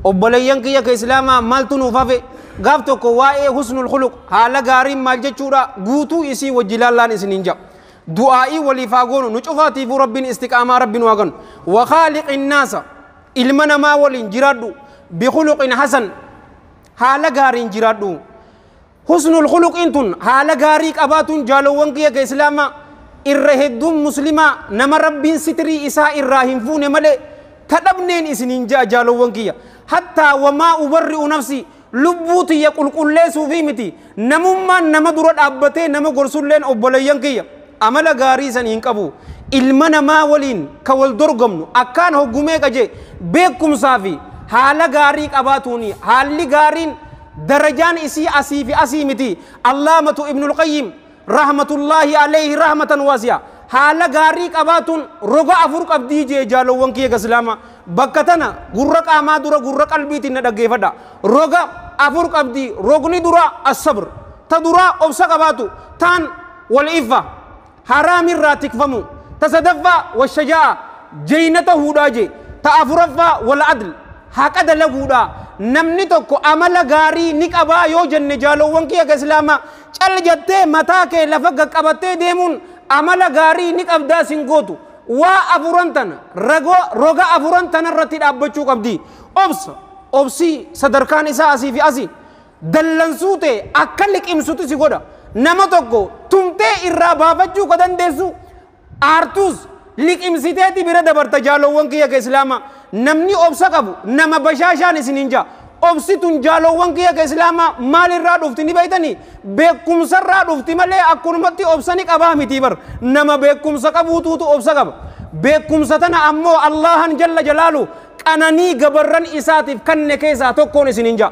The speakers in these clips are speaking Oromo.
obboleeyyan kiyya ka islaamaa maaltu nuuf hafe gaaf tokko waa'ee husnul khuluq haala gaariin maal jechuudha guutuu isii wajji laallaan isiniin ja'a du'aa'ii waliif haa goonu nu cufaatiifuu rabbiin istiqaamaa rabbi nu haa kennu wa khaaliqin naasa ilma namaa waliin jiraadhu bikhuluqin hasan haala gaariin jiraadhu Husnul khuluqiin tun haala gaarii qabaatuun jaalowwan kiyya ka islaamaa irra hedduun muslimaa nama rabbiin sitrii isaa irraa hin fuune malee ta dhabneen isiniin ja'a jaalowwan kiyya hattaa wamaa ubarri'u nafsii lubbuu tiyya qulqulleesuufii miti namummaan nama dura dhaabbatee nama gorsulleen obboleeyyan kiyya amala gaarii san hin qabu ilma namaa waliin ka wal dorgomnu akkaan hoggumee qaje beekumsaa fi haala gaarii qabaatuuni haalli gaariin Darajaan isii asii fi asii miti. Allaamatu Ibnul Qayyim rahmatullaahi aleyhi rahmatan waasi'a. Haala gaarii qabaatuun roga afur qabdii jee jaalowwan kiyya ka Islaamaa. Bakka tana gurra qaamaa dura gurra qalbiitiin na dhaggeeyfadha. Roga afur qabdi. Rogni duraa As-sabr. Ta duraa obsa qabaatu. Taan Wal-iffa. Haraam irraa tikfamuu. Ta sadaffaa, Washajaa'a, jeyna tahuudhaa je. Ta afuraffaa, Wal'adl, haqa dalaguudhaa. Namni tokko amala gaarii ni qabaa yoo jenne jaaloowwan kiyya ka Islaamaa, cal jattee mataa kee lafa gad qabattee deemuun amala gaarii ni qabdaa sin gootu. Waa afuran tana, rago, roga afuran tana irratti dhaabbachuu qabdi. Obsa, obsii, sadarkaan isaa asii fi asi. Dallansuu tee akka liqimsuti si godha. Nama tokko tumtee irraa baafachuu ka dandeessu aartuus liqimsiteeti bira dabarta jaaloowwan kiyya ka Islaamaa. Namni obsa qabu nama bashaashaan isiniin ja'a. Obsi tun jaaloowwan kiyya ka Islaamaa maalirraa dhufti ni beeytanii? Beekumsarraa dhufti malee akkanumatti obsa ni qabaa mitii bar. Nama beekumsa qabuutuutu obsa qaba. Beekumsa tana ammoo Allaahaan jalla jalaaluhu qananii gabarran isaatiif kanne keessaa tokkoon isiniin ja'a.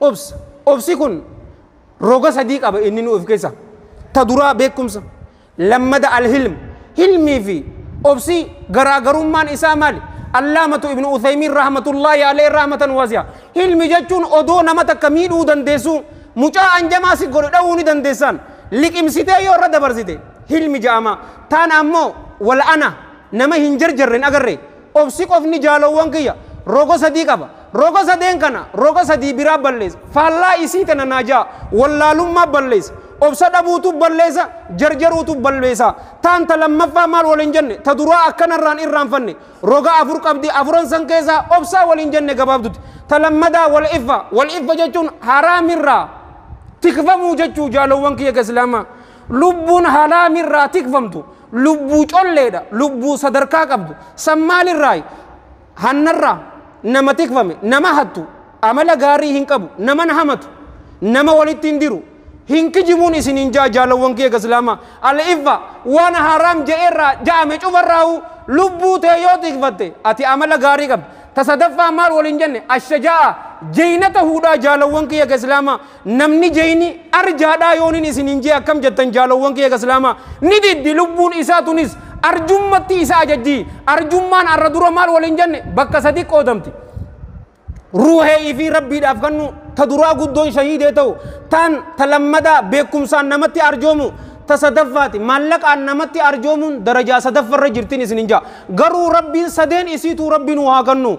Obsa. Obsi kun roga sadii qaba inninuu of keessaa. Ta duraa beekumsa. Lammada al-hilm. Hilmii fi obsi garaagarummaan isaa maali? Allaamatu Ibnu Uthaymiin rahmatullaahi alayhi rahmatan waasi'a. Hilmi jechuun odoo nama takka miidhuu dandeessuu mucaa anjamaa si godhe dhawuu ni dandeessaan liqimsitee yoo irra dabarsite hilmi ja'ama. Taan ammoo wal'ana nama hin jarjarre hin agarre. Obsi qofni jaalowwan kiyya roga sadii qaba. Roga sadeen kana roga sadii biraa balleessa. Faallaa isii tana naajaa, wallaalummaa balleessa. Obsa dhabuutu balleessa, jarjaruutu balleessa. Taan ta lammaffaa maal waliin jenne? Ta duraa akka narraan irraanfanne. Roga afur qabdi, afuran san keessaa obsaa waliin jenne gabaabduti. Ta lammadaa wal'iffa. Wal'iffa jechuun haraamirraa tikfamuu jechuu jaalowwan kiyya ka Islaamaa. Lubbuun halaami irraa tikfamtu lubbuu colleedha, lubbuu sadarkaa qabdu. San maalirraayi? Hannarraa nama tikfame, nama hattu, amala gaarii hin qabu, naman hamatu, nama walitti hin diru, hin kijibuun isiniin ja'a jaalawwan kiyya gaslaamaa. Al-iffa waan haaraam ja'eerraa ja'ame cufarraahuu lubbuu tee yoo tikfatte ati amala gaarii qabda. Ta sadaffaa maal waliin jenne? Ashajaa'a jeynata huudhaa jaalawwan kiyya gaslaamaa. Namni jeyni arjaadhaa yoonin isiniin jee akkam jettan jaalowwan kiyya ka islaamaa? Ni diddi lubbuun isaa tunis arjummatti isa ajajji. Arjummaan arra dura maal waliin jenne? Bakka sadi qoodamti. Ruuhee ifii rabbiidhaaf kannuu, ta duraa guddoon shahiidee ta'u, taan ta lammadaa beekkumsaan namatti arjoomu, ta sadaffaati maallaqaan namatti arjoomuun darajaa sadaffarra jirtin isinin ja'a. Garuu rabbiin sadeen isiituu rabbi nuu haa kannu.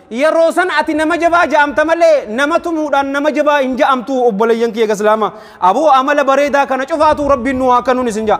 Yeroo san ati nama jabaa ja'amta malee nama tumuudhaan nama jabaa hin ja'amtu obboleeyyan kiyya gaslaama. Aboo amala bareedaa kana cufaatuu rabbiin nu haa kanuun isin ja'a.